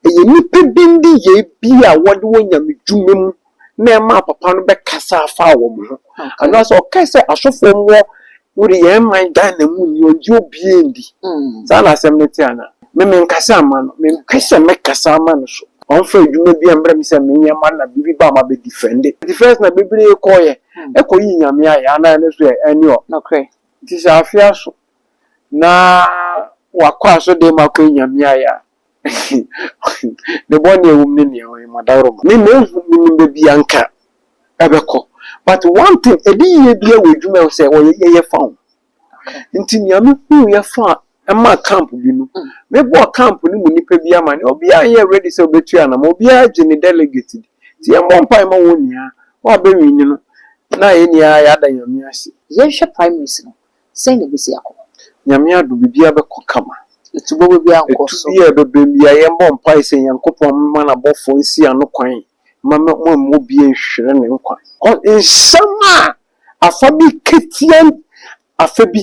Ɛyɛ nnipa bi nneyɛe bi a wɔde wɔ nyamedwuma mu na ɛmaa papa no bɛkasaa faa wɔn ho. Anaasɛ ɔkae sɛ asɔfoɔ mmɔ wode yɛn man Ghana mu ni, ɔngye obiara ndi. Saa na asɛm no te anaa? Me menkasa mma no, mempɛ sɛ mɛkasa ama no so. Ɔmfa adwuma bi mmrɛ me sɛ menyɛ mma no na biribi ba a mabɛ defɛnde. Defɛnse na bebree kɔɔyɛ, ɛkɔ yii Nyame ayɛ, anaa ɛno nso ɛ, ɛne ɔ. Nokorɛ. Nti sɛ afeɛ aso. na wakɔ asɔrdan mu akɔ enya miae a, ne bɔne a ɛwɔ mu ne nea ɔyɛ ma dawurama. Me manhu menim baabi a anka ɛbɛkɔ but one thing ɛde yie biara wɔ adwuma ɛwɔ sɛ wɔyɛ yɛyɛ fa ho nti nea me hu yɛ fa ɛmaa camp bi no me bɔɔ camp no mu nipa bi ama ne obiara nyɛ ready sɛ ɔbɛtua anamɔ obiara gye ne delegate di nti yɛn bɔ mpae ma wɔn nyinaa wɔn a bɛwini no na yɛn nyinaa yɛada nyame ase. Yɛnhwɛ primaries no Sɛn na ebesi akɔ? Nyame adom, biribiara bɛkɔ kama. Etu bɔbɔ biara nkɔ so. Etu biara a ɛbɛbam biara, yɛmmɔ mpae sɛ Nyankopɔn mma n'abɔfoɔ nsi ano kwan mma moamma obiara anhwere ne nkwa. Nsɛm a afa bi ka tia afa bi.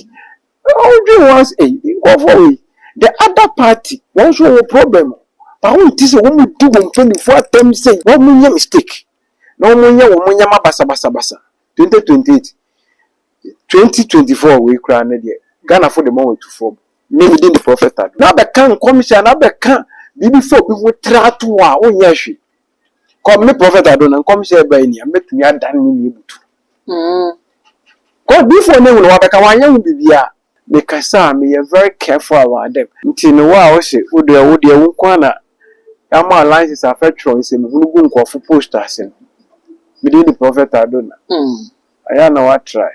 Wodwen ho a, sɛ ei, nkurɔfoɔ wei, the other party, wɔn nso wɔwɔ problem o. But wonte sɛ wɔdi wɔn mpanimfoɔ atɛm sɛ wɔnyɛ mistake na wɔnyɛ wɔn nneɛma basabasabasa. Twenty twenty eight, Twenty twenty four wei koraa ne deɛ Ghanafo de ma wɔn atu fam. Me me din de Prophet Ado. Na bɛka nkɔmhyɛ anaa bɛka biribi fa obi ho tra to hɔ a wonyɛ hwee. Kɔ me Prophet Ado na nkɔmhyɛ a ɛbae ni a mɛtumi adan ne nea ebutu. Kɔ diifoɔ no ehunu wabɛka wanyɛ ho biribiara. me kasa a me yɛ very careful about them. Nti no wo a wo se wo deɛ wo deɛ wo nko ara na ama wo license afɛ twerɛ nsɛmuhunu gu nkurɔfo post ase no, me din de Prophet Adona, ɛyɛ a na wo atrae.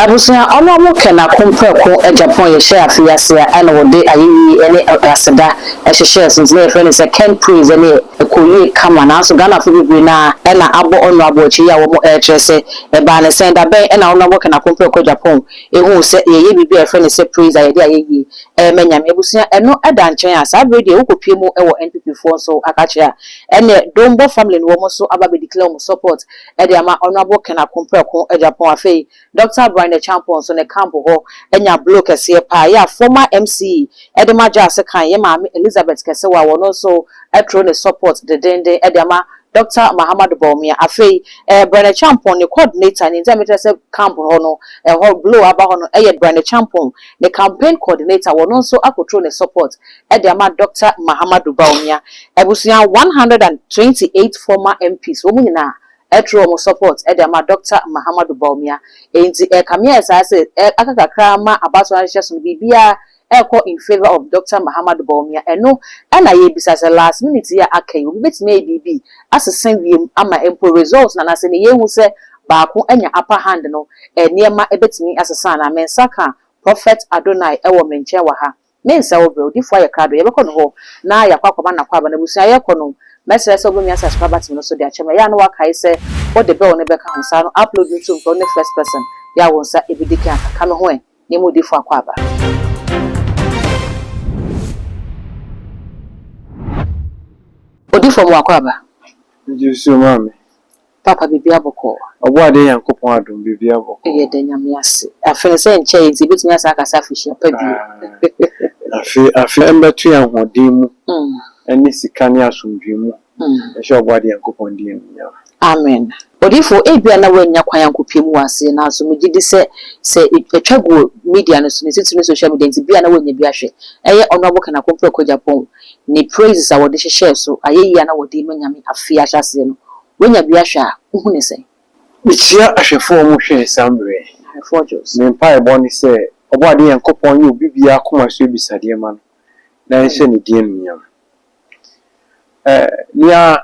Abusua ɔno ɔmo kɛ na ko mprɛko Japan yɛ hyɛɛ afe yi ase a ɛna wɔde ayeyi ɛne aseda ɛhyehyɛɛ so nti na yɛfrɛ no sɛ Ken Praise ɛne ɛkɔ yie kama nanso Ghanafo bebree no ara ɛna abɔ ɔno abo akyɛ yi a wɔmo ɛɛkyerɛ sɛ ɛbaa ne sɛn da bɛn ɛna ɔno ɔmo kɛ na ko mprɛko Japan ehuu sɛ yɛyɛ biribi a yɛfrɛ no sɛ Praise a yɛde ayeyie ɛɛma Nyame abusua ɛno ɛda nkyɛn a saa bere deɛ wokɔ pie mu ɛwɔ NPP foɔ nso akakyerɛ a ɛneɛ Dombɔ family no wɔmo nso aba abɛ declare wɔmo support de ama Honourable Ken Ako Preko Agyapong afei Doctor Brian Acheampong nso ne camp hɔ anya blow kɛseɛ paa ɛyɛ a former MCE de ma Gya Sekan yɛ maame Elizabeth Kɛsewa wɔ no nso tro ne support dedenden de ama Doctor Mahamadou Bawumia afei eh Brian Acheampong ne coordinator nti a mekyerɛ sɛ camp hɔ no ɛhɔ blow aba hɔ no ɛyɛ Brian Acheampong ne campaign coordinator wɔ no nso akɔtro ne support de ama Dɔkta Mahamadou Bawumia abusua one hundred and twenty eight former MPs wɔn nyinaa ɛtoro wɔn support de ama Dɔkta Mahamadou Bawumia enti ɛkame ayɛ saa sɛ aka kakra ama abatoɔ no ahyehyɛ so no biribiara ɛkɔ in favour of Dɔkta Mahamadou Bawumia ɛno na yɛbisa sɛ last minute yi a aka yi obi bɛtumi ayi biribi asesa wiem ama mpo result no anaasɛ nea yɛhu sɛ baako anya upper hand no nneɛma bɛtumi asesa anaa me nsa ka Prophet Adonai wɔ me nkyɛn wɔ ha. Ne nsa wɔ berɛ, odifoɔ ayɛ krado, yɛbɛkɔ ne hɔ na yɛakɔ akɔma n'akwaaba no abusua, yɛrekɔ no, mɛsrɛ sɛ wobɛmia sɛ Asukra Batime no so de akyɛ me, ɛyɛ a na woakae sɛ wode bɛwo no bɛka ho, saa no upload no nso mpɛ, wo ne first person yɛ a wo nsa ɛbɛdi kan aka, ka me ho ɛ, ne mu odifoɔ akwaaba. Odifoɔ mo akwaaba. Gye nsuo ma me. Papa biribiara bɔkɔɔ. Ɔbɔadeɛ Nyankopɔn adom biribiara bɔkɔɔ. Yɛda Nyame ase. Afe no sɛ nkyɛe nti yɛbɛtumi asan aka sɛ afehyia pa bio. Afe afe mbɛto yɛn ahoɔden mu ɛne sika ne asomdwoe mu nhyɛ Ɔbɔadeɛ Nyankopɔn din animuonyam. Amen. Odiyifo, ebia na woannya kwan ankɔ pie mu wɔ ase, nanso megye di sɛ sɛ ɛtwa gu wɔ media no so, ne titiriw ne social media nti, bia na woanya bi ahwɛ. Ɛyɛ Honourable Ken Akompre Okwadjapong, ne praises a wɔde hyehyɛɛ so, ayeyi a na wɔde rema Nyame afe ahyɛaseɛ no, wanya bi ahwɛ a, wohu no sɛn? Mekyia ahwɛfo a wɔn hwɛɛ saa mmerɛ yi. Ahwɛfoɔ Jos. Me mpaebɔ ne sɛ Ɔbɔadeɛ Nyankopɔn nyɛ obi biara akoma so abisadeɛ mma no na ɛnhyɛ ne din anuonyam. Eh, nea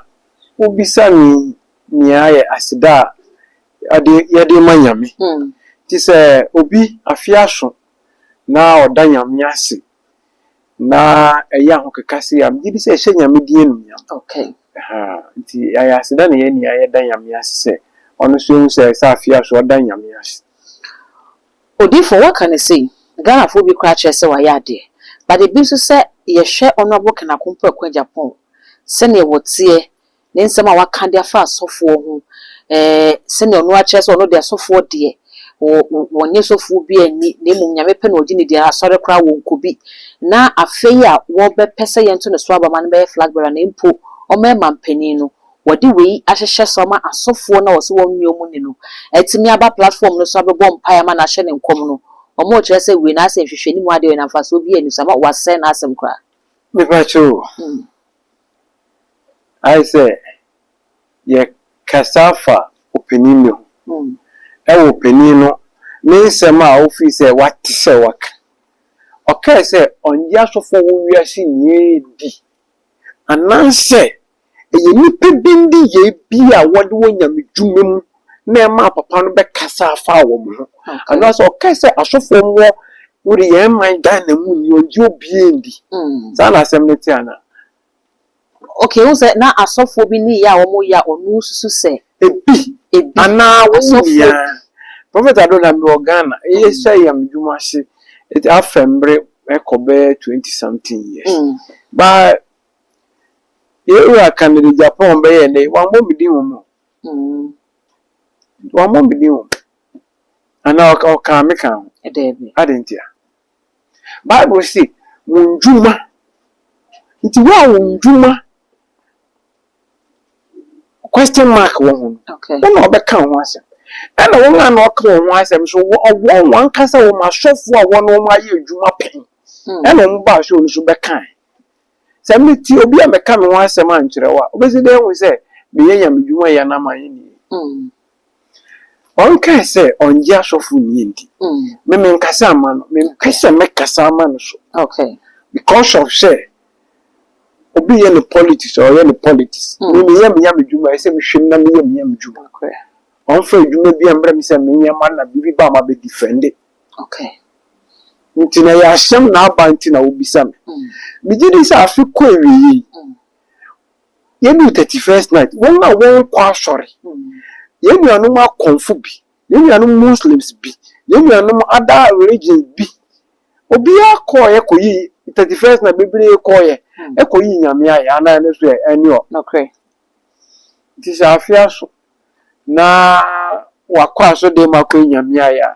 wobisa me yi nea ayɛ aseda a yɛde, yɛde rema Nyame. Nti sɛ obi, afe aso na ɔda Nyame ase na ɛyɛ ahokeka sei a, megye di sɛ ɛhyɛ Nyame din anuonyam. Okay. Ahaa, nti yɛayɛ aseda na yɛn nyinaa yɛda Nyame ase sɛ ɔno nso yɛhu sɛ ɛsɛ sɛ afei ara nso ɔda Nyame ase. Odiyifoɔ, woaka no sei, Ghanafoɔ bi koraa kyerɛ sɛ wayɛ adeɛ, but ebi nso sɛ yɛhwɛ Honourable Ken Akompɔaku Agyapong sɛdeɛ wɔteɛ Ne nsɛm a waka de afa asɔfoɔ ho, ɛɛ, sɛdeɛ ɔno ara kyerɛ sɛ ɔno deɛ asɔfoɔ deɛ, wɔ, wɔ, wɔnnye sɔfoɔ biara nni, na mmom Nyame pɛ na wɔgye no di, na asɔre koraa wɔnkɔ bi. Na afei a wɔbɛpɛ sɛ yɛnto ne so aba ma no bɛyɛ flag bearer no mpo, ɔmmarima mpanin no, wɔde wei ahyehyɛ so ama asɔfoɔ no a wɔse wɔnnye wɔn nni no atumi aba platform no so abɛbɔ mpaeɛ ama no ahyɛ no nkɔm no. Wɔrekyerɛ sɛ wei no ayɛ sɛ nhwehwɛnimu adeɛ, wei no mfasoɔ biara nni so, ama wɔasɛe n'asɛm koraa. Mepa kyɛw o, ayɛ sɛ yɛkasa fa ɔpanin bi ho. Ɛwɔ ɔpanin no ne nsɛm a ɔfiri sɛ wate sɛ waka. Ɔkae sɛ ɔnnye asɔfoɔ wɔ wiase nyinaa di anaasɛ ɛyɛ nnipa bi nneyɛɛ bi a wɔde wɔ nyamedwuma mu na ɛmaa papa no bɛkasaa faa wɔn ho anaasɛ ɔkae sɛ asɔfoɔ mmɔ wode yɛn man Ghana mu ni ɔngye obiara ndi mm. saa na asɛm no te anaa okay wo sɛ na asɔfoɔ bi ne yɛ a wɔn yɛ a ɔno susu sɛ ebi ebi anaa wɔn nyinaa prɔfɛt ado na mewɔ Ghana ɛyɛ mm. sɛ yam dwuma ase ɛti afɛ mmerɛ ɛkɔ bɛyɛ twenty something years mm. baa yɛwura kanada Japan bɛyɛ ne wɔn abɔ mi din wɔn Wammɔ me din o, anaa ɔkaa me ka ho. Adɛn ntia? Bible se, Mo nnwuma. Nti wo a wo nnwuma question mark wɔ ho no, wo na wɔbɛka wo ho asɛm. Ɛna wɔn a na wɔka wɔn ho asɛm nso, wɔn wɔn ankasa wɔn asɔfoɔ a wɔne wɔn ayɛ adwuma pɛn na wɔn baa sɛ wɔn nso bɛkae. Sɛ mete obi a mɛka me ho asɛm ankyerɛ wo a, wobɛsi dɛn ahu sɛ meyɛ Nyame dwuma yɛ anaa manyɛ ne yie? Ɔnkae sɛ ɔngye asɔfo nnie nti, me menkasa amma no. Mempɛ sɛ mɛkasa ama no so because of sɛ obi yɛ ne politics a, ɔyɛ ne politics. Me meyɛ me Nyame dwuma a, ɛsɛ sɛ mehwɛ mu na meyɛ me Nyame dwuma. Ɔmfa adwuma biara mmerɛ me sɛ menyɛ ma na biribi ba a mabɛdifɛnde. Okay. Nti na ɛyɛ asɛm na aba nti na wobisa me. Megye di sɛ afe kɔ awieeɛ yi, yɛduu thirty first night, wɔn a wɔnkɔ asɔre, yɛn nuanom akɔmfo bi, yɛn nuanom Muslims bi, yɛn nuanom other religions bi, obiara kɔɔeɛ kɔyii thirty first night, bebree kɔɔeɛ kɔyii Nyame ayɛ anaa ɛno nso ɛ, ɛne ɔ. Nokorɛ. Nti sɛ afe aso na wakɔ asɔrdan mu akɔ anyame ayɛ a,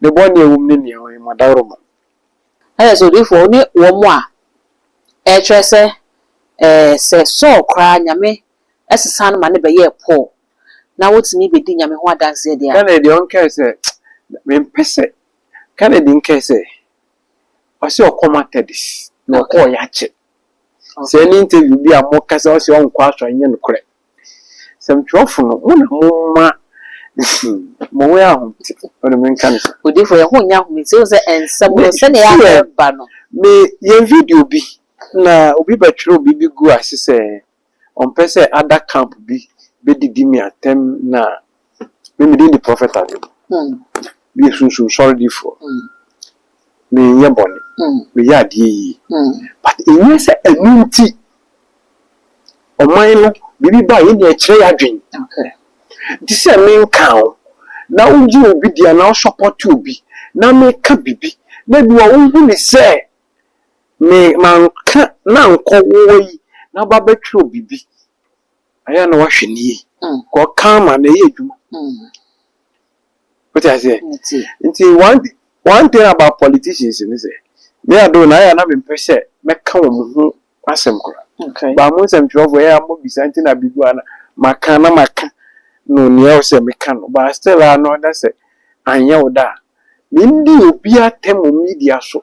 ne bɔne a ɛwɔ mu ne nea ɔyɛ ma daworo ma. Ayɛ sɛ odiyifoɔ wo ne wɔn a ɛkyerɛ sɛ ɛɛ sɛ Saul koraa Nyame sesa no ma no bɛyɛɛ Paul na wotumi bɛdi Nyame ho adanseɛ deɛ a. Kennedy deɛ ɔnkae sɛ mempɛ sɛ Kennedy nkae sɛ ɔse ɔkɔ Methodist na ɔkɔɔ yɛakyɛ. Sɛ ne interview bi a moka sɛ ɔse ɔnkɔ asɔre nyɛ nokorɛ. Sɛmtwerɛfo no mo na momma mo ho yɛ ahomete ɔde menka no saa. Odifo yɛn ho nyɛ ahomete wohu sɛ nsɛm no sɛdeɛ ɛyɛ a ɛba no. Me yɛ video bi na obi bɛtwerɛ biribi guu ase sɛ ɔmpɛ sɛ ada camp bi bɛdidi me atɛm na me medin de prɔfɛt ade no me yɛ sunsum sɔre difoɔ me nyɛ bɔne me yɛ adeɛ yie but ɛnyɛ sɛ ɛno nti ɔman no biribi ba yɛn deɛ ɛkyerɛ yɛ adwen nti sɛ me nka o na wo gye obi deɛ na wo support obi na me ka bibi na bi wa wo hu ne sɛ me manka na nkɔ woɔ yi na aba bɛtwerɛ biribi ɛyɛ a na wahwɛ ne yie nka ɔka ama na ɛyɛ adwuma wote aseɛ nti one, one thing about politicians ne sɛ me ado na ayɛ a na mempɛ sɛ mɛka wɔn ho Asɛm kora. Ba mo nsɛmtwerɛfoɔ ɛyɛ a mo bisa nti na bigu ana maka na maka no nea ɛwɔ sɛ meka no but still a na ɔda sɛ anyɛ wo da a mendi obi atɛm wɔ media so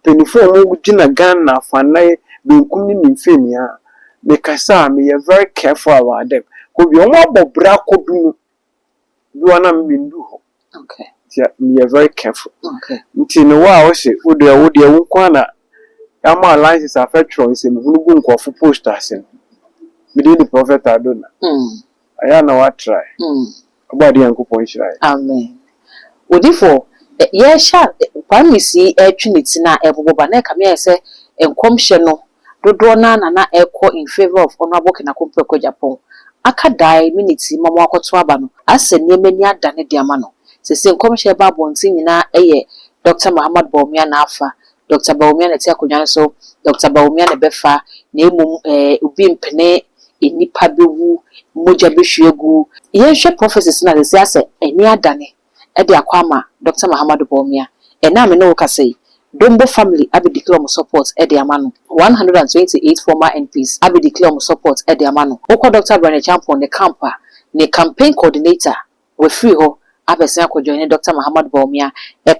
mpanyinfoɔ a ɔmo gyina Ghana afanna yi benkum ne nimfeɛ nyinaa mekasa a meyɛ very careful about them kɔ bia ɔmo abɔ bra kɔ bi mu. Bi wɔ hɔ a na menndu hɔ. Ntsi meyɛ very careful. Ntsi no wo a ose wo deɛ wo deɛ wo nkoaa na yɛama wo license afɛ twerɛ nsɛmuhunu gu nkorɔfo post ase no, me din de Prophet Adona. Ayɛ a na woatrae. Ɔbɔade Nyankopɔn nhyira yɛn. Amen. Odifo, yɛrehyɛ a Kwame sii retwe ne ti no a ɛrebobɔ ba no, na ɛkame ayɛ sɛ nkɔmhyɛ no Dodoɔ no ara na na ɛrekɔ in favour of Honourable Kenako Mpreko Agyapong. Aka dae minutes yi ma wɔakɔto aba no, ayɛ sɛ nneɛma ani adane de ama no. Seesei nkɔmhyɛ a ɛba abɔnten nyinaa yɛ Dɔkta Mahamat Bawumia na afa, Dɔkta Bawumia na ɛte akonnwa no so, Dɔkta Bawumia na ɛbɛfa, na mmom eh, obi mpene, nnipa bɛwu, mogya bɛhwie agu. Yɛnhwɛ prophecies no a, seesei ayɛ sɛ ani adane. de akɔ ama Doctor Mahamadou Bawumia. Ɛnnɛ a me ne wo kasa yi, Dombo family abɛ declare ɔmo support de ama no. One hundred and twenty eight former MPs abɛ declare ɔmo support de ama no. Wokɔ Doctor Bryan Acheampong ne camp a, ne campaign coordinator, wafiri hɔ abɛsen akɔ joine Doctor Mahamadou Bawumia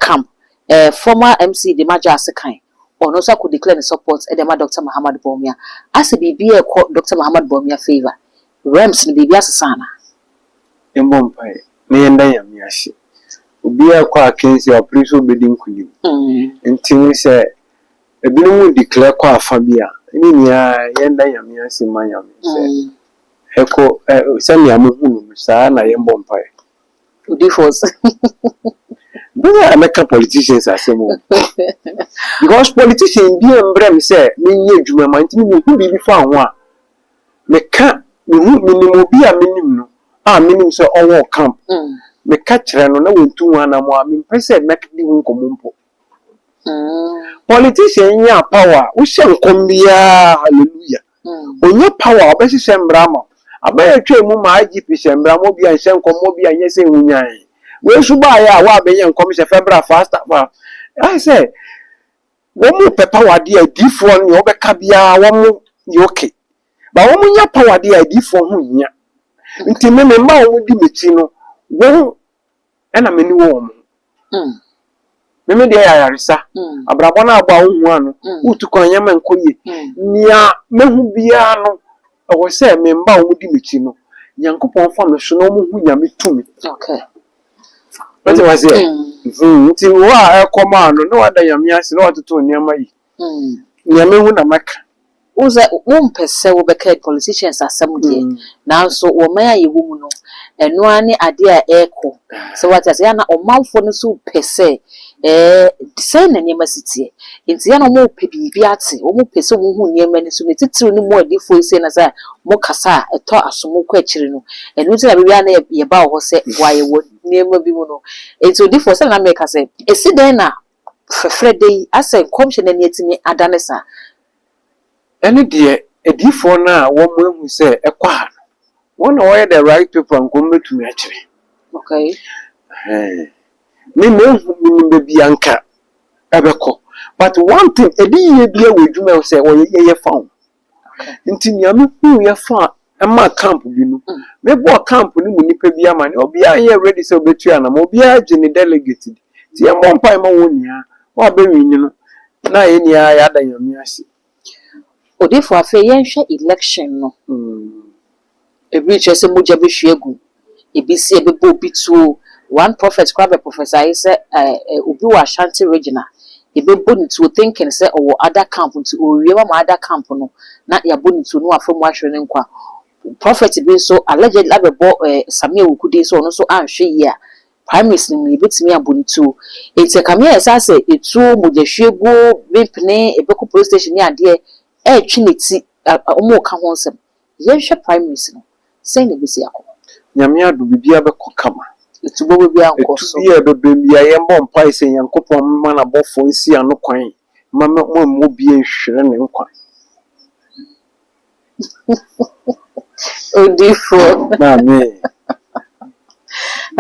camp. Eh, former MC Dema Gyasi Kan, ɔno nso akɔ declare ne support de ama Doctor Mahamadou Bawumia. Asɛ biribi ɛrekɔ Doctor Mahamadou Bawumia favour? Rems no biribi asesa anaa? yɛmbɔ mpae na yɛnda Nyame ase. Obiara rekɔ akansi a ɔpere sɛ obedi nkonim. Ntsi no sɛ binom declare kɔ afa bi a, ne nyinaa yɛnda Nyame ase ma Nyame sɛ hɛkɔ sɛnea mohu no no saa na yɛmbɔ mpae. Odifoɔ. Bɛyɛ a mɛka politicians asɛm o because politician biaa mbrɛ me sɛ menyɛ edwuma ma ntsi no mehu biribi fa ho a. Meka, mehu, menim obi a menim no a menim sɛ ɔwɔ camp, meka kyerɛ no na wɔntu ho anammɔn a, mempɛ sɛ mɛdi ho nkɔmmɔ mpo. Politician nyaa power a, wohyɛ nkɔm biara a, hallelujah, ɔnya power a, ɔbɛhyehyɛ mmara ama wo. Aban a ɛtwaa mu maa IGP hyɛɛ mmara ma obi anhyɛ nkɔm, ma obi anyɛ sei, honyaan. Wei nso baeɛ a, wo a bɛnyɛ nkɔmhyɛ, fɛ bra, faster, fa. Ayɛ sɛ Wɔn pɛ power deɛ adiifoɔ no deɛ wɔbɛka biara wɔn yɛ ok but wɔn nya power deɛ adiifoɔ ho hia nti me me mma wɔn di mɛkyi no wɔn ɛna mani wɔ wɔn ho me me deɛ yɛ ayaresa abrabɔ no abɔ a wo hua no wo tu kwan nyɛma nkɔ yie nea mɛhu biara no ɛwɔ sɛ me mma wɔn di mɛkyi no Nyankopɔn fa me so na wɔn hu Nyame tumi. Wate wá seɛ? Mm-hmm. Nti wo a ɛkɔm a no na wada nyame ase na watoto nneɛma yi. Mm. Nea mehu na mɛka. Wo sɛ wompɛ sɛ wobɛka politicians asɛm deɛ mm. nanso wɔman a yɛwɔ mu no ɛno ara ne adeɛ a ɛrekɔ sɛ wate ase yɛ na ɔmanfoɔ no nso pɛ sɛ Ɛɛ, enti sɛn na nneɛma si teɛ? Enti yɛn a wɔrepɛ biribi ate, wɔpɛ sɛ wɔhu nneɛma ani so, ne titiriw ne mo adiyifo yi sei na sɛ mokasa a, ɛtɔ asom, mokɔ akyiri no, ɛno nti na bere biara na yɛba wɔ hɔ sɛ boa yɛn wɔ nneɛma bi mu no. Enti odiyifo, sɛnea na mereka sɛ, esi dɛn na fɛfrɛ da yi asɛ nkɔmhyɛ no ani atumi adane saa? ɛne deɛ adiyifoɔ no a wɔahu sɛ ɛkɔ ha no, wɔn na wɔyɛ the right people a nka wɔbɛtumi akyerɛ. Okay. Ɛhɛn. Me mehu menim baabi a nka ɛbɛkɔ. But one thing, adiyie biara wɔ adwuma a ɛwɔ sɛ wɔyɛ, yɛyɛ fa ho. Nti nea mehuiɛ fa ɛmaa camp bi no. Mebɔɔ camp no mu nnipa bi amanneɛ. Obiara anyɛ ready sɛ ɔbɛtu anamɔn. Obiara gye ne delegate di. Nti yɛmmɔ mpae mma wɔn nyinaa. Wɔn a bɛwini no, na yɛn nyinaa yɛada Nyame ase. Odiyifo, afei yɛnhwɛ election no. Ebi kyerɛ sɛ mogya bɛhwie agu ebesi a ɛbɛbɔ obi tuo. One prophet koraa bɛ prophesy sɛ eh obi wɔ Ashanti region a yɛbɛbɔ no tuo thinking sɛ ɔwɔ other camp nti ɔrewie wama other camp no na yɛabɔ no tuo na wafa mu ahwere ne nkwa. Prophet bi nso allegedly abɛbɔ eh Sammy Awuku din sɛ ɔno nso anhwɛ yie a primaries no mu no yɛbɛtumi abɔ no tuo. Nti ɛkame ayɛ saa sɛ etuo, mogyahwieguo, bempene, ɛbɛkɔ police station ne adeɛ ɛretwe ne ti, wɔreka ho nsɛm. Yɛnhwɛ primaries no, sɛn na ebesi akɔ? Nyame adom, biribiara bɛkɔ kama. Etubɔ bɛ biara nkɔ so. Etu biara a ɛbɛbam biara, yɛbɔ mpae sɛ Nyankopɔn mma n'abɔfoɔ nsi ano kwan mma wɔamma obiara anhwere ne nkwa. Odiyifoɔ. Amen.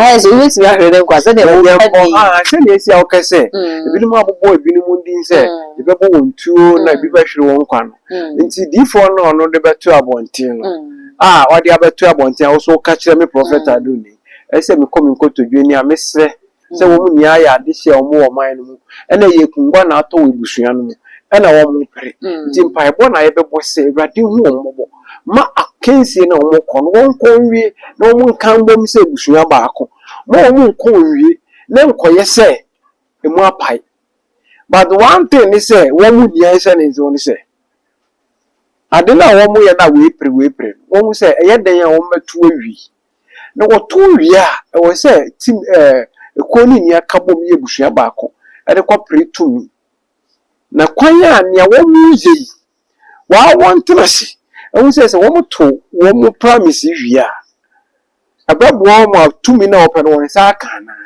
Ayɛ sɛ wobɛtumi ahwere ne nkwa sɛdeɛ Na wɔka Nyankɔ, din. ah, sɛdeɛ ɛsi a wokɛ sɛ, Mm, ebinom abobɔ ebinom din sɛ mm, yɛbɛbɔ wɔn tuo na ebi mm, bɛhwere wɔn nkwa no. mm, Nti diifoɔ no a ɔno de bɛto abɔnten no, mm, a ɔde abɛto abɔnten a wo nso woka kyerɛ me prɔfɛt mm, Ado ni, ɛsɛ sɛ mekɔ me nkotodwe anim a mesrɛ sɛ wɔn nyinaa yɛ ade hyɛ wɔn wɔ ɔman no mu. Ɛna ɛyɛ akungua na atɔ wɔ abusua no mu. Ɛna wɔmpere. Nti mpaebɔ na yɛbɛbɔ sɛ, Awurade hu wɔn mmɔbɔ. Ma akansie no a wɔkɔ no, wɔnkɔ nwie na wɔnka mbom sɛ abusua baako. Ma wɔn nkɔ nwie na ɛnkɔyɛ sɛ emu apae. But one thing ne sɛ wɔn nni ahisɛnensew ne sɛ, ade no a wɔyɛ no a wɔapire wɔapire no, wɔhu sɛ ɛyɛ dɛn a wɔbɛtow awie. Na wɔtow wie a, ɛwɔ sɛ tim ɛɛ kuo no nyinaa ka bom yɛ abusua baako de kɔpere tumi. Na kwan a nea wɔreyɛ yi, waa wɔntena ase nhu sɛ sɛ wɔtow wɔn promise yi wie a, ɛbɛboa wɔn ma tumi no a wɔpɛ no wɔn nsa aka anaa.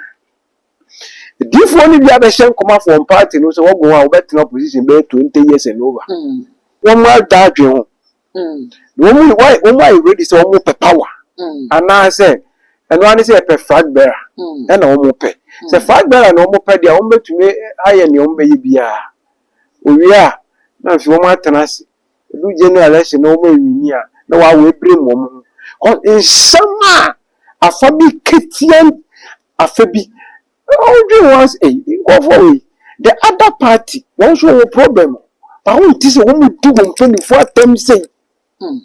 Adiyifoɔ no bi abɛhyɛ nkɔma for wɔn party no sɛ wɔgo a wɔbɛtena opposition bɛyɛ 20 years and over. Wɔn adwene ho. wɔn why wɔn ayɛ ready sɛ wɔn pɛ power anaasɛ ɛno ara ne sɛ yɛpɛ flag bearer ɛna wɔn pɛ sɛ flag bearer na wɔn pɛ deɛ wɔn bɛtumi ayɛ nea wɔn bɛyɛ biara owie a na afei wɔn atena ase edu general election na wɔn anwini a na wɔawo ebire mu wɔn ho kɔ nsɛm a afa bi ketewa afa bi Wodwen ho asɛ ei nkurɔfoɔ wei the other party wɔn nso wɔwɔ problem ba wɔn ti sɛ wɔn mu di wɔn mpanimfoɔ atɛm sei mm.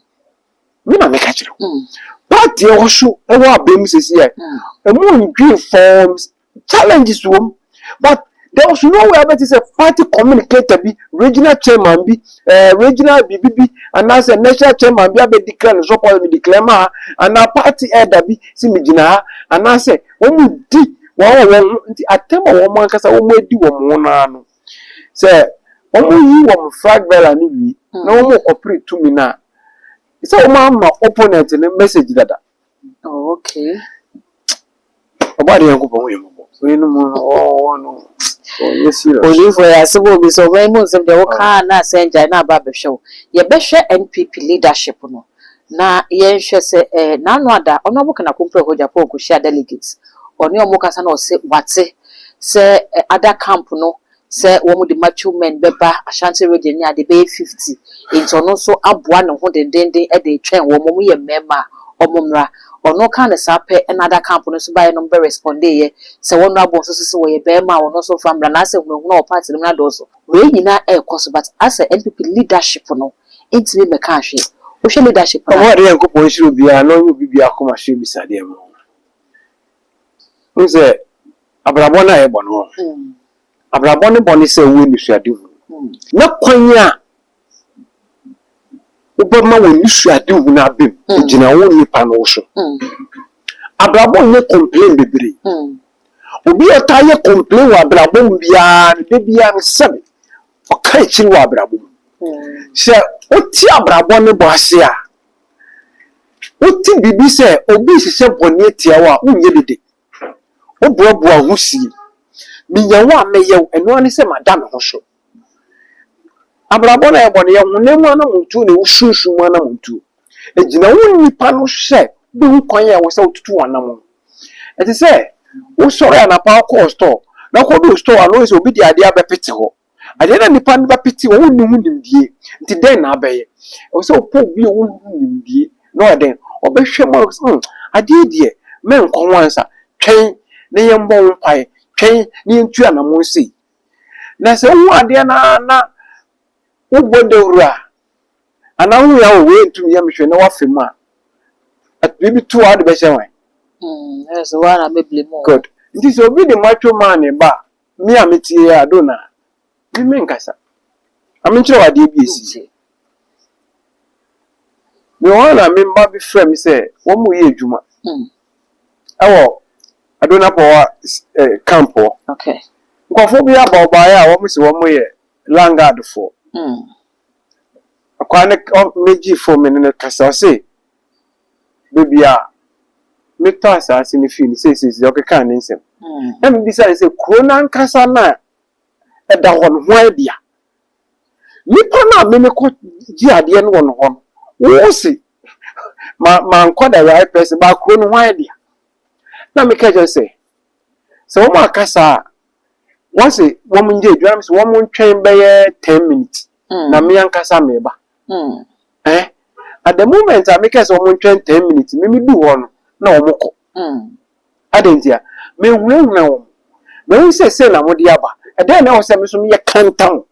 Me na meka kyerɛ wo mm. party ɛwɔ so ɛwɔ abɛn mu sɛsi yɛ ɛmu ndwen forms challenges wɔm but there was no way abɛte sɛ party communicator bi regional chairman bi eh, regional biribi bi anaasɛ national chairman bi abɛdeclare ne support me declare ma ha anaa party elder bi si me gyina ha anaasɛ wɔdi wɔn wɔ wɔn ho nti atɛm a wɔn ankasa wɔadi wɔn ho no ara no, sɛ wɔyi wɔn flag bearer no wie na wɔkɔpere tumi no a, sɛ wɔamma opponent no message dada. Oh, okay. Ọba de Nyankopɔn yɛ mmɔbɔ. So yɛ no mu no ɔwɔ no ɔnyɛ serious. Olifo yɛ asɛm obi sɛ ɔbɛn mu nsɛm deɛ wokaa na asɛn gyae na aba abɛhwɛ wo. Yɛbɛhwɛ NPP leadership no. Na yɛnhwɛ sɛ eh, n'ano ada, ɔne ɔmo kana kompɛ hɔ Japan kohyia delegates, ɔne ɔmo kasa na ɔse wate sɛ eh, other camp no sɛ wɔmo de macho men bɛba Ashanti region ne ade bɛyɛ fifty, enti ɔno nso aboa ne ho dendeenden de retwɛn wɔmo, wɔmo yɛ mmarima a ɔmo mmra. Ɔno kaa no saa pɛ na other camp no nso baeɛ na ɔmo bɛ respondeeɛ sɛ wɔn honourable nso se se wɔyɛ barima a ɔno nso mfa mmra, na asɛ hunahuna wɔ party no mu no adɔɔso. Wei nyinaa ɛrekɔ so but asɛ NPP leadership no, Entumi mmɛkaa hwee. Wohwɛ leadership no a. Ɔbɔɔ Nyankopɔn nhyira obiara na ɔnyɛ obi biara koma so abisadeɛ mma wo. Wohu sɛ abrabɔ no a yɛbɔ no hɔ no, abrabɔ no bɔ ne sɛ wowɔ anisoadehunu. Na kwan a wobɛma w'anisoadehunu no aba mu, ɛgyina wo nipa no wo so. Abrabɔ nyɛ complain bebree. Obi a ɔtaa yɛ complain wɔ abrabɔ mu biara no, da biara no, sɛbe Ɔka akyiri wɔ abrabɔ mu. Sɛ wote abrabɔ no bɔ ase a, wote biribi sɛ obi rehyehyɛ bɔne atia wo a, wonyɛ dede. Woboaboa wo ho sie. Minya wo a, mɛyɛ wo. Ɛno ara ne sɛ mada me ho so. Abrabɔ no a ɛbɔ no yɛ honam anammɔntuo na ɛwɔ sunsum mu anammɔntuo. Egyina wo nnipa no hwɛ bɔ ho kwan a ɛwɔ sɛ wotutu wɔn anammɔn. Ɛte sɛ wosɔre anapa wokɔɔ store na wokɔduu store no wohu sɛ obi de adeɛ abɛpete hɔ. Adeɛ no a nnipa no bɛpete hɔ wonni ho nimdie nti dɛn na wobɛyɛ? Ɛwɔ sɛ wopɛ obi a ɔwɔ ho nimdie na ɔyɛ dɛn? Ɔbɛhwɛ ma wo sɛ hmm, adeɛ yi deɛ mɛnkɔ ho ansa. Twɛn na yɛmmɔ ho mpaeɛ. Twɛn na yɛntu anammɔn sei. Na sɛ wohu adeɛ no ara na wobɔ dawuro a, Ana wo hia o wei ntum yɛ me hwɛ na wafa mu a at biribi to a wode bɛhyɛ hwan? Mm, ɛyɛ sɛ woa na bɛbile mu o. Good. Nti sɛ obi de macho maa ne ba a, me a metie a do na me menkasa. Ma menkyerɛ wo adeɛ bi a ɛsii. Nti. Mewɔ hɔ a na me mma bi frɛ me sɛ wɔn reyɛ adwuma Mm, ɛwɔ Adona Power s- eh, camp hɔ. okay. Nkurɔfoɔ bi aba wɔbaeɛ a wɔn se wɔn yɛ Landguard foɔ. Mm. Akwaa ne ɔ mɛgyi fo me ne no kasa ɔse baabi a metɔ asaase no fii no seisei ɔkekaa ne nsɛm. Mm. Na mebisa ne sɛ kuro no ankasa no a ɛda hɔ no hwan dea? Nipa no a me mekɔ gye adeɛ no wɔ no hɔ no wo se ma mankɔ the right person ba kuro no hwan dea? Na meka kyerɛ sɛ sɛ wɔn akasa a Wɔse wɔnyɛ adwuma no mese wɔntwɛn bɛyɛ ten minutes na me ankasa meba. Eh, at the moment a mekɛɛ sɛ wɔntwɛn ten minutes me medu hɔ no na wɔkɔ. Adɛn ntia? Mehunahuna wɔn. Mahu sɛ sei na mode aba. Ɛdɛn na ɛwɔ sɛ me so meyɛ kantam?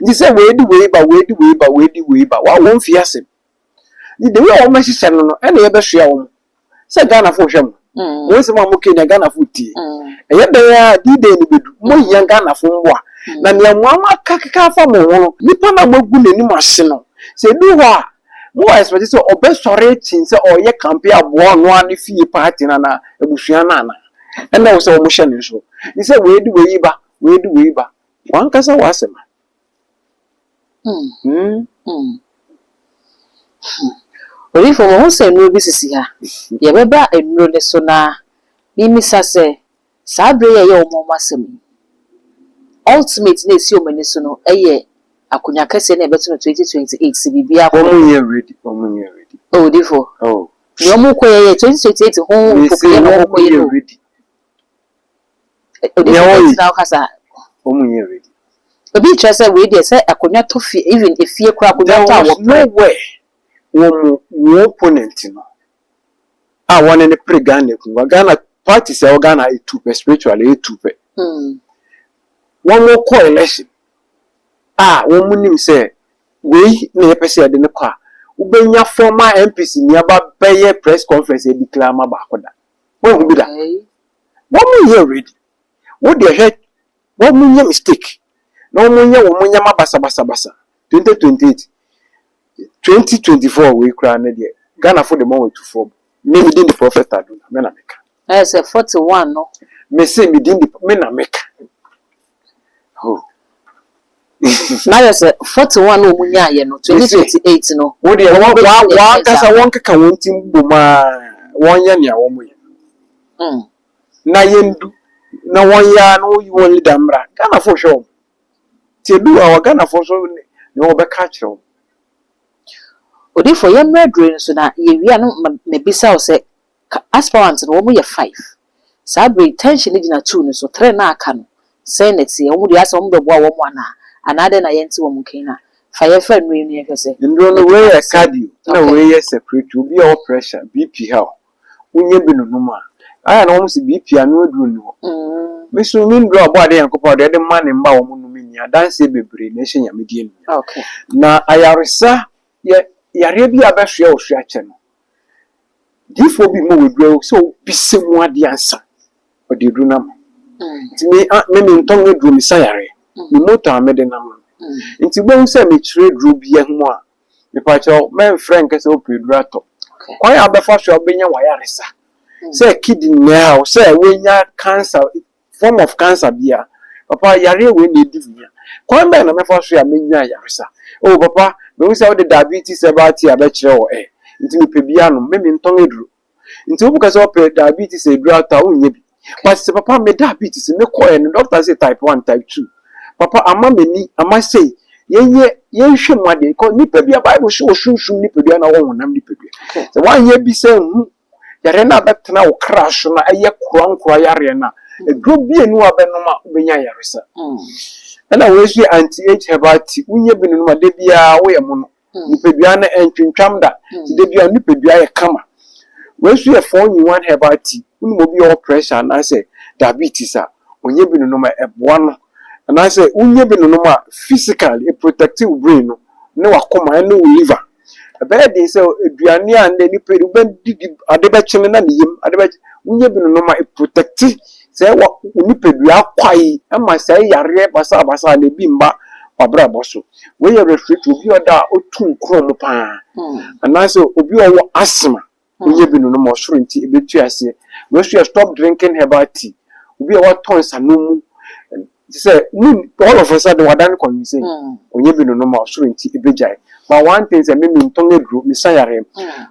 Nti sɛ wei de wei ba, wei de wei ba, wei de wei ba, wɔn mfi ase. The the way a wɔn hyehyɛ no no ɛna yɛbɛsoa wɔn sɛ Ghanafo hwɛ mo wɔn nsɛm a mokɛ nea Ghanafo tie ɛyɛ dɛn a D-Day no bɛdu mohia Ghanafo mmoa na nea mo ano aka keka afa mo ho no nipa no a moagu n'anim ase no sɛ ɛduru hɔ a mowɔ expect sɛ ɔbɛsɔre akyin sɛ ɔreyɛ campaign aboa ɔno ara ne fie party no anaa abusua no anaa ɛna ɛwɔ sɛ wɔhyɛ no nso ne sɛ wei de wei ba wei de wei ba wankasa w'asɛm. Odiyifo, mahu sɛ nnuro bi sisi ha. Yɛbɛba nnuro no so na memmisa sɛ, saa bere yi a ɛyɛ wɔn wɔn asɛm yi, ultimate no a esi wɔn ani so no yɛ akonnwa kɛseɛ no a yɛbɛto no 2028 sɛ biribiara kɔ yie a? Wɔnyɛ ready, wɔnyɛ ready. Oh, odiyifo, nea wɔrekɔ yɛ yɛ 2028 ho mpopoeɛ na wɔrekɔ yɛ no o. Obi Nea ɔyɛ- gyina hɔ ka saa. Wɔn mu nyɛ ready. Obi kyerɛ sɛ wei deɛ sɛ akonnwa tɔ fie even efie koraa akonnwa There tɔ a was wɔpere. no where wɔn wɔn opponent no a wɔne no pere Ghana akonnwa. Ghana parties a ɛwɔ Ghana ayɛ tu pɛ spiritually ɛyɛ tu pɛ. Hmm. Wɔn kɔ election a wɔn nim sɛ wei na yɛpɛ sɛ yɛde no kɔ a wobɛnya former MPs ni aba bɛyɛ press conference yɛ declare ama baako da. Woanhu bi da? Wɔnyɛ ready. Wo deɛ hwɛ, wɔnyɛ mistake na wɔnyɛ wɔn nneɛma basabasabasa. 2028, 2024 wei koraa no deɛ, Ghanafo de wɔn atu fam. Me, me din de Prophet Ado na me na meka. Ayɛ sɛ forty one no. Mese me din de, me na meka. Oh. na yɛ sɛ forty one na wɔn nyaayɛ no twenty twenty eight no. wo deɛ wɔn wɔn wɔn ankasa wɔn keka wɔn ti bom a wɔn yɛ nea wɔn yɛ hmm. na yɛn du na wɔn yɛ a na wɔn yi wɔn leader mmra ghana fo hwɛ wɔn ti edu a wɔ ghana fo nso ne wɔn bɛka akyerɛ wɔn. odifo yɛn mmerɛ duro nso na yɛwia no mabisa wo sɛ Ka aspirants no, wɔn yɛ five. Saa bere yi tension no gyina two no so, three no a aka no, sɛn na ɛteɛ? Wɔn deɛ asɛ wɔn bɛboa wɔn anaa? Anaa dɛn na yɛnte wɔn nka yi na fa yɛmfa nnuro yi no yɛnhwɛ sɛ Nnuro no, wei yɛ cardio ɛna wei yɛ circulatory. Obi a ɔwɔ pressure, BP ha o, wonya bi nonom a, ayɛ a na wɔn se BP ano aduro nni hɔ. Me nso me nnuro a Ɔbɔadeɛ Nyankopɔn a ɔde ɛde ma ne mma a wɔn nnom nni adanseɛ bebree na ɛhyɛ Nyame din animuonyam. Na ayaresa yɛ yareɛ bi a bɛsoɛ wo so akyɛ no. Diifoɔ bi ma waduru awo sɛ ɔbisa mu adeɛ ansa ɔde aduru no ama nti me a me mentɔn aduro mesa yareɛ me motor a mede nam no nti wobɛhu sɛ mekyerɛ aduro biara ho a mepakyɛw mɛmfrɛ nkɛ sɛ wopɛ aduro atɔ kwan a wobɛfa so a wobɛnya w'ayaresa sɛ kidney haw sɛ woanya cancer form of cancer biara papa yareɛ wei na ɛdi me a kwan bɛn na mɛfa so a mɛnya ayaresa oh papa mahu sɛ wode diabetes herbal tea bɛkyerɛ wɔ eh nti mepɛ bi anom me mentɔn aduro nti wobɛka sɛ wopɛ diabetes aduro atɔ a wonyɛ bi but sɛ papa me diabetes me kɔɛ no doctor sɛ type 1 type 2 papa ama m'ani ama sei yɛnyɛ yɛnhwɛ mu adeɛ kɔ nipadua bible so wɔ sunsum nipadua na wɔ honam nipadua sɛ woanyɛ bi sɛ hu Yareɛ no a bɛtena wo kra so na ɛyɛ korankora yareɛ no a, aduro mmienu a bɛnom a wobɛnya ayaresa. Ɛna wei nso yɛ anti age herbal tea, wonya bi nonom a da biara woyɛ mono. Nipadua no ɛntwintwam da, nti da biara wo nipadua yɛ kama. Wei nso yɛ four in one herbal tea, wonim obi a ɔwɔ pressure anaasɛ diabetes a, ɔnya bi nonom a ɛboa no. Anaasɛ wonya bi nonom a physically ɛprotɛkte wo brain no ne w'akoma ɛne wo liver. Ɛbɛyɛ den sɛ aduane a nnɛ nipa yɛde wobɛdidi ade bɛkyene na ne yam ade bɛkye wonyɛ bi nonom a ɛprotɛkte sɛ wɔ wo nipadua kwae ɛma saa yareɛ basabasa no ebi mma w'abrabɔ so. Wei yɛ respiratory obi a ɔda a ɔtu nkorɔmo paa anaasɛ obi a ɔwɔ asthma. Woyɛ bi no no ma ɔsoro nti ebetu aseɛ. Wei nso yɛ stop drinking herbal tea. Obi a watɔ nsanom mu te sɛ mu all of a sudden wadan no convincing. Ɔnyɛ bi no no ma ɔsoro nti ebegyae. But one thing sɛ me mentɔn aduro me sa yareɛ.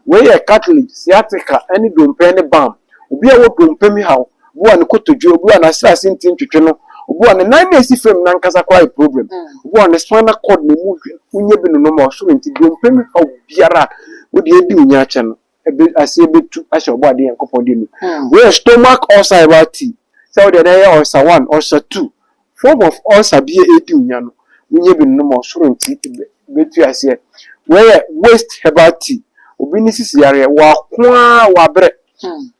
Wei yɛ cartilage, sciatica ɛne dompe ɛne balm. Obi a ɔwɔ dompe mu haw obi a ne kotodwe, obi a n'aserase nti ntwetwe no, obi a ne nan na esi fam no ankasa koraa yɛ problem, obi a ne spinal cord na emu hwe no, wonyɛ bi no no ma ɔsoro nti dompe mu haw biara a wode adi wo nya akyɛ no, ɛbɛ, aseɛ bɛtu ahyɛ Ɔbɔadeɛ Nyankopɔn din mu. Wei yɛ stomach ulcer a ɛba tea, sɛ wo deɛ na ɛyɛ ulcer one, ulcer two, Form of ulcer bi a edi nya no wonya bi nom ɔsoro nti ebetu aseɛ. Wei yɛ waste herbal tea, obi ne sisi yareɛ, wako aa wabrɛ,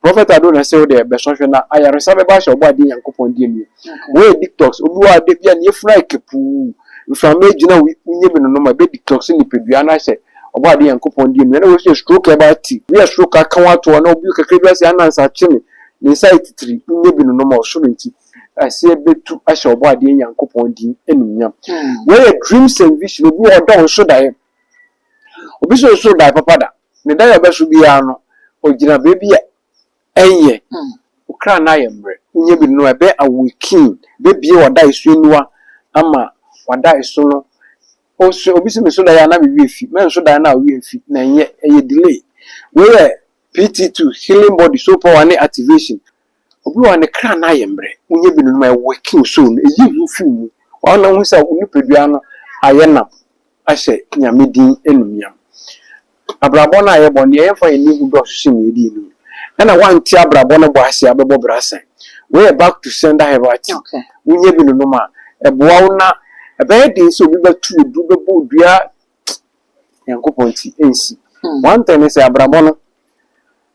Prophet Addo na se wo deɛ bɛsɔ hwɛ na ayaresa bɛba ahyɛ ɔbɔ adeɛ Nyankopɔn deɛ nie. Wei yɛ detox, obi wɔ hɔ a da biara ne yafunu ayɛ kapuu, mframa agyina wei, wonya bi nonom a ɛbɛ detox nipadua no ahyɛ ɔbɔ adeɛ Nyankopɔn deɛ mu. Ɛna wei nso yɛ stroke herbal tea, wei yɛ stroke aka wo ato hɔ na obi kakra bi asɛ anansa akye me, ne nsa ayɛ titiri, wonya bi nonom ɔsoro nti. aseɛ bɛtu ahyɛ Ɔbɔadeɛ Nyankopɔn din animuonyam. Wei yɛ dreams and vision. Obi wɔ hɔ ɔdɔ nso daeɛ. Obi nso nso daeɛ papa da. Ne daeɛ a ɔbɛso biara no, ɔgyina baabi a ɛnyɛ. Wo kra no ayɛ mmerɛ. Wonya bi no a, ɛbɛ awaken, ɛbɛbue w'adaeɛ so aniwa ama w'adaeɛ so no. Ɔso, obi se menso daeɛ a na me werɛ afi. Mɛnso daeɛ no a wo werɛ mfi. Na ɛnyɛ, ɛyɛ delay. Wei yɛ PT2, healing body, soul power ne activation. Obi wɔ hɔ a ne kra no ayɛ mmerɛ, wonya bi no no ma ɛwɛke wo soul no, ɛyi hu firi mu. Ɔhɔ na wohu sɛ wo nipadua no ayɛ nam ahyɛ Nyame din animuonyam. Abrabɔ no a yɛbɔ no, deɛ yɛmfa yɛn ani hu dɔɔso sen deɛ yɛde yɛn ani hu. Ɛna woante abrabɔ no bɔ ase a, wobɛbɔ bra sɛn? Wei yɛ back to sender have a ti. Wonya bi no nom a, ɛboa wo na ɛbɛyɛ den sɛ obi bɛto wo duru, bɛbɔ wo dua, Nyankopɔn nti, ɛnsi. One thing ne sɛ, abrabɔ no,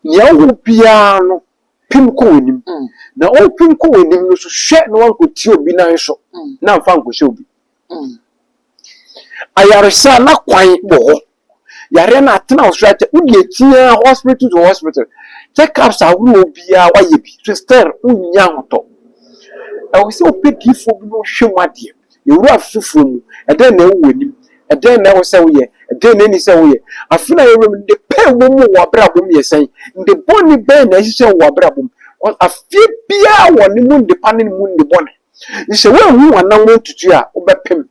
deɛ wowɔ biara no, pim kɔ w'anim, na worepim kɔ w'anim no so hwɛ na woankɔti obi nan so na amfa ankɔhyɛ obi. Ayaresa a na kwan wɔ hɔ, yareɛ no atena wo so akyɛ, wode akyi ara hospital to hospital, check ups ahoroɔ biara woayɛ bi, so still wonnya ahotɔ. Ɛwɔ sɛ wopɛ diifoɔ bi na ɔhwɛ mu adeɛ. Yɛn wura foforo mu, ɛdɛn na ɛwɔ w'anim? Ɛdɛn na ɛwɔ sɛ woyɛ? Ɛdɛn na enni sɛ woyɛ? Afe no a yɛwura mu no, nne pa a ɛwom wɔ w'abrabɔ mu yɛ sɛn? Nne bɔne bɛn na ahyehyɛ wɔ w'abrabɔ mu? Afe biara wɔ ne mu nne pa ne ne mu nne bɔne. Sɛ woanhu w'anammɔn ntutu a, wobɛpem.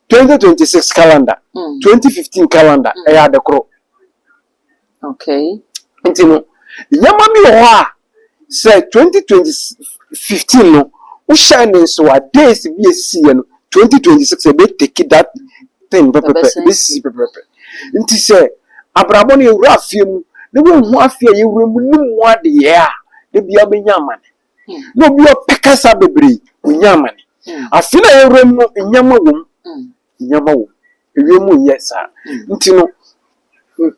2026 calendar, 2015 calendar, ɛyɛ ade koro. Okay. Nti no, nneɛma bi wɔ hɔ a, sɛ twenty twenty fifteen no, wohyɛɛ ne nsow a, days bi a esisiiɛ no, twenty twenty six ebe take that thing pɛpɛpɛ, ebe sisi pɛpɛpɛ. Nti sɛ abrabɔ no yɛwura afeɛ mu na woanhu afeɛ a yɛwura mu no mu adeɛ a, da biara wobɛnya amane. Na obi a ɔpɛ kasa bebree, ɔnya amane. Afe no a yɛwura mu no, nneɛma wɔ mu. hia ma wo. Ewiem nyɛ saa. Ntsi no,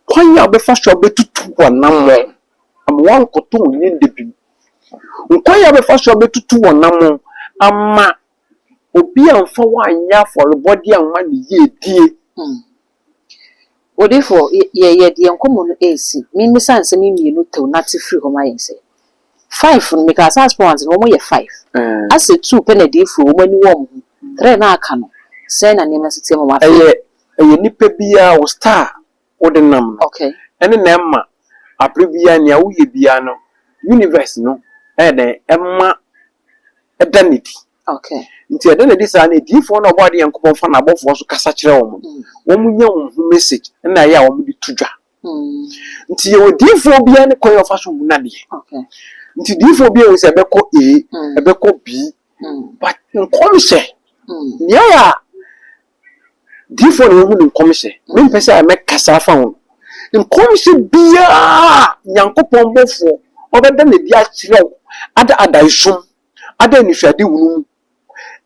kwan a abɛfa so abɛtutu w'anamɔn ama woannkɔtɔ wo nyɛn da bi mu, kwan a abɛfa so abɛtutu w'anamɔn ama obi ammfa wo annyɛ afɔrbɔdze amma ne yiedie, Odiyifoɔ, yɛ, yɛ, yɛde yɛn nkɔmmɔ no resi, memmisa nsɛm yi mmienu tew na te firi hɔ ma yɛn sɛ, Five no, mekaa sɛ aspirants no, wɔyɛ five, asɛ two pɛ na adiyifoɔ, wɔn ani wɔ wɔn ho, three no a aka no, sɛn na nneɛma si teɛ ma wɔn afei? Ɛyɛ, ɛyɛ nipa biara, wo star a wode nam no, Okay. ɛne na ɛma, aberɛ biara, nea woyɛ biara no, universe no ɛyɛ dɛn, ɛma ɛda no adi. Ok. Nti ɛda no adi saa na adiyifoɔ no a wɔbɔ adeɛ Nyankopɔn fa n'abɔfoɔ so kasa kyerɛ wɔn no, wɔnya wɔn ho message ɛna ɛyɛ a wɔde to dwa. Nti yɛwɔ diyifoɔ biara ne kwan a ɔfa so hu n'adeɛ. Ok. Nti diyifoɔ biara wɔ sɛ ɛbɛkɔ A, ɛbɛkɔ B, but nkɔmhyɛ, nea ɛyɛ a diyifoɔ na wɔhu ne nkɔmhyɛ, mempɛ sɛ I mɛkasa afa ho no, nkɔmhyɛ biara a Nyankopɔn bɔfoɔ ɔbɛda no adi akyerɛ wo ada adaesom, ada anisoadehunu mu.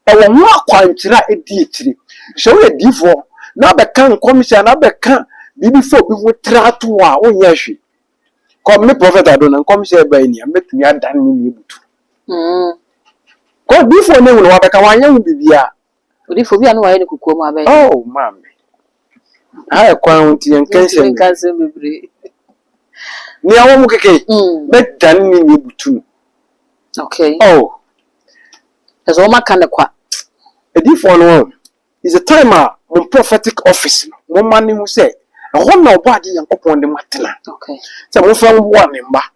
Ɛwɔ ho akwankyerɛ a edi akyiri. Sɛ woyɛ diyifo na abɛka nkɔmhyɛ anaa abɛka biribi fa obi ho tra to hɔ a, wonyɛ hwee. Kɔ, me Prɔfɛt Ado, na nkɔmhyɛ a ɛbae ni a, mɛtumi adan ne nne abutu. Kɔ, diyifo a ɔne wo na wabɛka, wanyɛ ho biribiara. Odifo, obi a ne wayɛ no kokoam abɛn. Oh, maame. Ha yɛ kwan ho nti yɛnka nsɛm. Yɛntumi nka nsɛm bebree. Nea wɔn keke. Bɛdane ne nea ebutu no. Okay. Oh. Ɛsɛ wɔn aka ne kwa. Edifo no wɔn. Is the time a mo prophetic office no mo ma ne ho sɛ ɛhɔ na ɔbɔ ade Nyankopɔn de mo atena. Okay. Sɛ mo fɛn boa ne mma.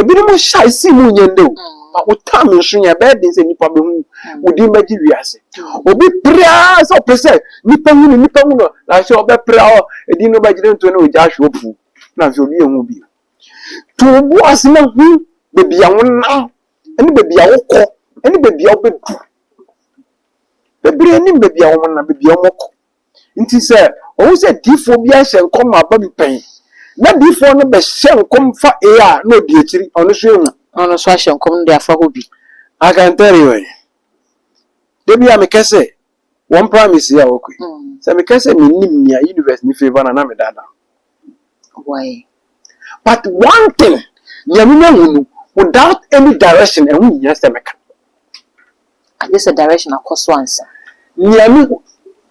Ebinom nhyɛ a esii mu nyɛ nnɛ o, na wo term nso nyɛ a, ɛbɛyɛ den sɛ nnipa behu wo, wo din bɛgye wiase. Obi pere ara sɛ ɔpɛ sɛ nnipa hu no, nnipa hu no, na sɛ ɔbɛpere a, edin no bɛgye ne ntoe na ogya ahwe opuw, na afei obi nhu wo bio. To wo bo ase na hu baabi a wonam, ne baabi a wokɔ, ne baabi a wubedu. Bebree nim baabi a wɔnam, baabi a wɔkɔ, Enti sɛ ohu sɛ difoɔ bi ahyɛ nkɔm aba bi pɛn, na difoɔ no bɛhyɛ nkɔm fa A a, na ɔdi akyiri, ɔno nso ahu. Na ɔno nso ahyɛ nkɔm no de afa hɔ bi. I can tell you eh, da bi a mekɛ sɛ wɔmpra me sei a, ok, sɛ mekɛ sɛ mennim nea universe no favour no a, na medaadaa. Why? But one thing, nea menya hu no, without any direction, ɛho nhia sɛ meka. Agye sɛ direction akɔ so ansa. Nea me,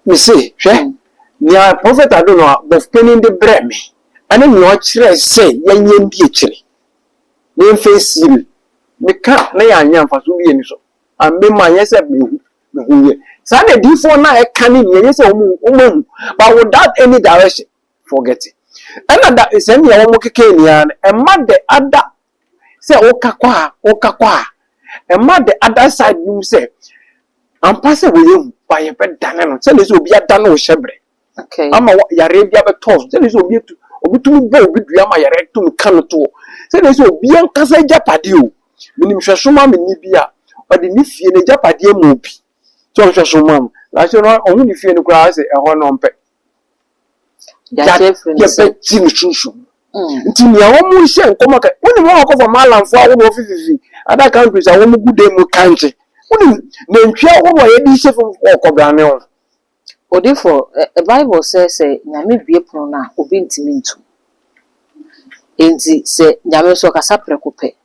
mese, hwɛ, nea Prophet Adono a Bɔfopanin de brɛɛ me, ɛne nea ɔkyerɛɛ sɛ yɛnyɛ ndi akyire, na yɛmfa nsie, meka a, na yɛanyɛ mfaso biara nni so. And me manyɛ sɛ mehu, mehuiɛ. Saa na adiyifoɔ no a ɛka ne nea ɛnyɛ sɛ wɔn, wɔahu, but without any direction. forget ɛna da sɛ nea wɔn keka ni ara no ɛma dɛ ada sɛ woka kɔ a woka kɔ a ɛma dɛ ada side no mu sɛ ampa sɛ wɔyɛ hu ba yɛbɛdane no sɛdeɛ sɛ obi adane wo hyɛbrɛ okay. ama yareɛ bi abɛtɔ so sɛdeɛ sɛ obi atu obi tumi bɔ obi dua ama yareɛ tumi ka no toɔ sɛdeɛ sɛ obi ankasa agyapadeɛ o menim hwɛso ma me ni bi a ɔde ne fie no agyapadeɛ ma obi sɛ ɔhwɛso ma m na sɛ ɔho ne fie no koraa sɛ ɛhɔ no ɔmpɛ Daakye afiri no so. yɛbɛgye no sunsum mu nti nea wɔn mu hyɛ nkɔmɔ ka wɔn mu wɔn akɔfa maalamfoɔ ahodoɔ fififi other countries a wɔn gu dan mu kankye wɔn mu nantwie ahodoɔ a yɛde hyɛ fam wɔ kɔbrane ho. Odifo, ɛ bible sɛ sɛ Nyame bue pono no a obi ntumi nto mu. Enti sɛ Nyame nso ɔkasa prɛko pɛ.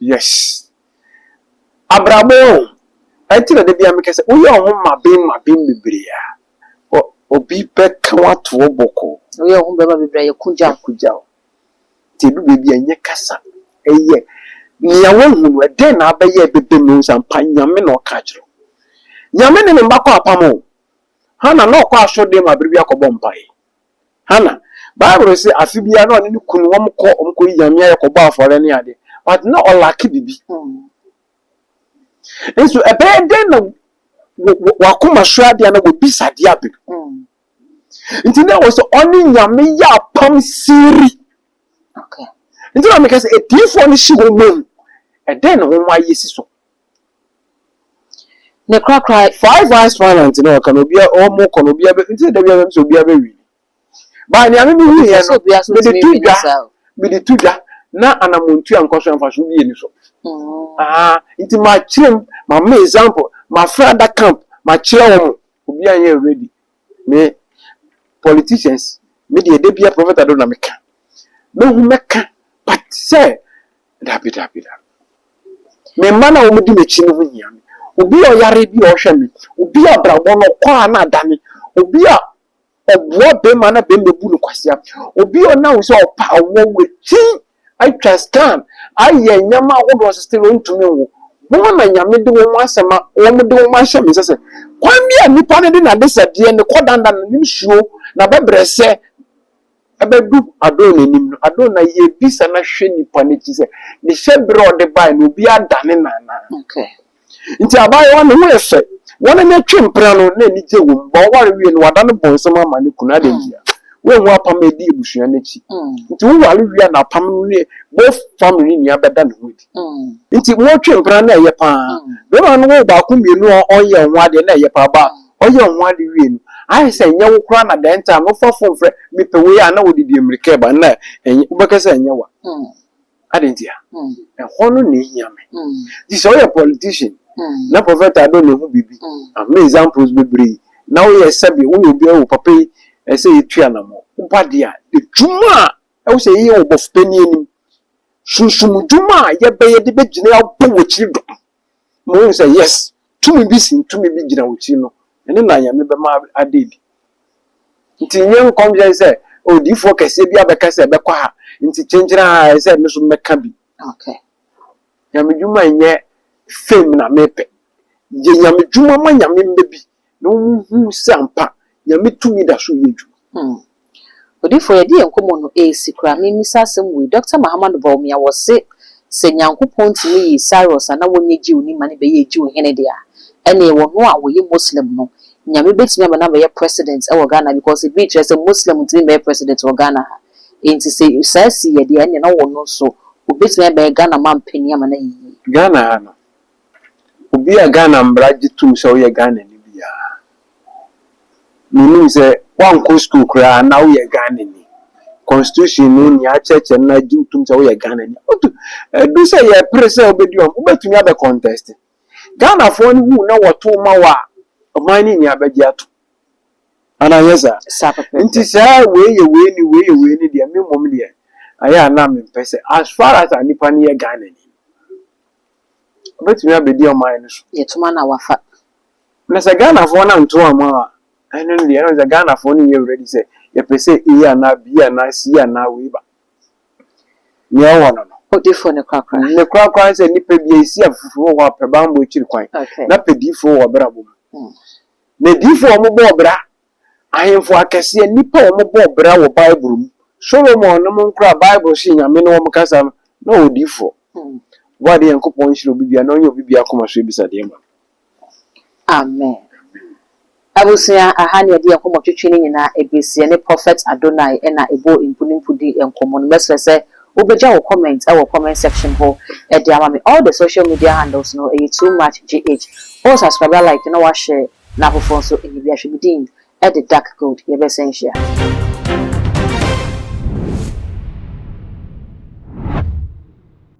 Yes abrabɔ o ɛnti na dabia mekɛ sɛ woyɛ woho maben maben bebree a obi bɛka wo ato hɔ bɔkɔɔ. Woyɛ woho bɛma bebree a yɛku gyaw. Yɛku gyaw nti ɛdu baabi a ɛnyɛ kasa ɛyɛ nea wahu no ɛdɛn na abɛyɛ ɛbɛbam na wahu sɛ ampa Nyame na ɔka akyerɛ wo. Nyame ne ne mma kɔ apam o Hannah na ɔkɔ asɔrdan mu a bere biara kɔbɔ mpae Hannah. Bible se afe biara na ɔne ne kunu wɔn kɔ wɔn kɔ yi nyame ayɛ kɔbɔ afɔre ne ade but na ɔlake bibi. Nso ɛbɛyɛ dɛn na wakoma sua ade ana wabisa ade abɛ. Nti na wɔ sɛ ɔne nyame yɛ apam siri. Nti na meka sɛ atiefo no hye wɔn mu. Ɛdɛn na wɔn ayɛ si so. Ne korakora. Five Eyes Finance no ɔka no obia ɔmo kɔ no obia bɛ nti da bia bɛm sɛ obia bɛ win ba nea mimi hu yɛ no mede to dwa mede to dwa na anamontua nkɔ so ɛmfa so bi yɛ ni so aa nti ma kyerɛm ma ma example ma fra da camp ma kyerɛ wɔn obia nyɛ ready me politicians me deɛ da bia prophet ado na meka me hu mɛka but sɛ Dabi, dabi, dabi. Me mma no a wɔdi m'akyi no ho hia me. Obi a ɔyare bi a ɔhwɛ me, obi a abrabɔ no ɔkɔ a na adane, obi a ɔboa bɛrima na bɛrima bu no kwasea, obi a ɔnam sɛ ɔpa awɔ wakyi atwa scan ayɛ nneɛma ahodoɔ so still ɔntumi nwo. Wɔn na Nyame de wɔn asɛm a wɔn de wɔn ahyɛ me nsa sɛ kwan bi a nipa no de n'adesadeɛ, ne kɔdanda, ne nsuo, n'abɛbrɛsɛ, Ɛbɛdu Adona anim no, Adona yɛ abisa na hwɛ nnipa no akyi sɛ ne hyɛberɛ a ɔde baeɛ no, obi adane no anaa. Enti abaayewa no ho yɛ fɛ. Wɔn ani atwe mpena no, na anigye wom. But ɔware wiei no, wadane bɔnsam ama ne kunu. Adɛn ntia? Wanhu apam a ɛdi abusua no akyi. Enti woware wie a, na apam no ne both family no nyinaa bɛda ne ho adi. Enti motwe mpena no, na ɛyɛ pa ara. Barima no wɔ baako mmienu a ɔnyɛɛ ho adeɛ, na ɛyɛ pa ara. But Ɔyɛ ɔho ade wiei no, ayɛ sɛ ɛnyɛ wo koraa na the entire no wofa phone frɛ mepɛ wei a na wode di mmirika reba nna ɛnyɛ wobɛka sɛ ɛnyɛ wa ade ntia ɛhɔ no na ehia me nti sɛ woyɛ politician na prophet ado ne ho biribi ama examples bebree na woyɛ sɛbe wo ne obi ɛwɔ papa yi ɛsɛ yɛtu anamɔ woba de a adwuma a ɛwɔ sɛ yɛyɛ wɔ bɔfo panin anim sunsum dwuma a yɛbɛyɛ de bɛgyina abɔ wɔ akyiri dɔm Mohu sɛ, yes, tumi bi si tumi bi gyina wo ti no, ɛno na Nyame bɛma ada adi. Nti nyɛ nkɔmhyɛ sɛ, oh, diyifoɔ kɛseɛ bi abɛka sɛ ɛbɛkɔ ha, nti kyenkyene ha, ɛsɛ sɛ me nso mɛka bi. Okay. Nyame dwuma nyɛ fame na mepɛ. Yɛ Nyame dwuma ma Nyame mma bi. na wɔhunu sɛ ampa Nyame tumi da so yɛ adwuma. Hmm. Odiyifo, yɛde yɛn nkɔmmɔ no resi koraa. Memmisa asɛm wei. Dɔkta Mahamanu Bawumia, wɔse sɛ Nyankopɔn tumi yii Cyrus a na wɔnyɛ Jew ni ma no bɛyɛɛ Jew hene de a, ɛnneɛ wɔno a ɔyɛ Muslim no, Nyame bɛtumi ama no abɛyɛ President wɔ Ghana because ebi rekyerɛ sɛ Muslim ntumi mmɛyɛ President wɔ Ghana ha. Enti sɛ saa siiɛ deɛ ɛnneɛ na wɔno nso wɔbɛtumi abɛyɛ Ghana manpanin ama no ayɛ yie. Ghana ha no, obi a Ghana mmara gye tom sɛ woyɛ Ghanani biara, menim sɛ woankɔ sukuu koraa na woyɛ Ghanani. Constitution no nea akyerɛkyerɛ no na agye wo tom sɛ woyɛ Ghanani. Wotu edu sɛ yɛpere sɛ wobɛdi wɔn, wobɛtumi abɛ contest. Ghanafoɔ no hu na wɔto ma wɔ a, ɔman no nyinaa bɛgye ato. Anaa nyɛ saa? Saa pɛpɛɛpɛ. Nti saa wei yɛ wei ni, wei yɛ wei ni deɛ, me mmom deɛ, ayɛ a na mempɛ sɛ, as far as a nipa no yɛ Ghanani. ɔbɛtumi abɛdi ɔman no so. Yɛtoma na wafa. Na sɛ Ghanafoɔ no anto amma a, ɛno no deɛ, ɛno sɛ Ghanafoɔ no nyɛ ready sɛ yɛpɛ sɛ A anaa B anaa C anaa wei ba. Nea ɛwɔ hɔ no no. Odifoɔ no korakora. Ne korakora ne sɛ nnipa bi a ɛsi afoforo wɔ hɔ a pɛ bammɔ akyiri kwan, na pɛ diifoɔ wɔ ɔbrabɔ mu. Na diifoɔ a wɔbɔ ɔbra Ahemfo akɛseɛ, nnipa a wɔbɔɔ bra wɔ Bible mu, Solomon nom koraa a Bible se Nyame ne wɔn kasa no, na ɔyɛ odiyifoɔ. Boa yɛn Nyankopɔn nhyira obi biara na ɔnyɛ obi biara koma so abisadeɛ mma no. Amen. Abusua, aha ne yɛde nkɔmmɔtwetwe no nyinaa ɛbesi. Yɛne Prophet Adonai ɛna ɛbɔɔ mpu ne mpu dii nkɔmmɔ no. Mɛsrɛ sɛ wobɛgya wo comment ɛwɔ comment section hɔ ɛde ama me. All the social media handles no ɛyɛ too much GH. Wo subscriber like na wo a share. Na afoforɔ nso nyɛ bi ahwɛ me din de dark gold yɛbɛsɛ nhyia.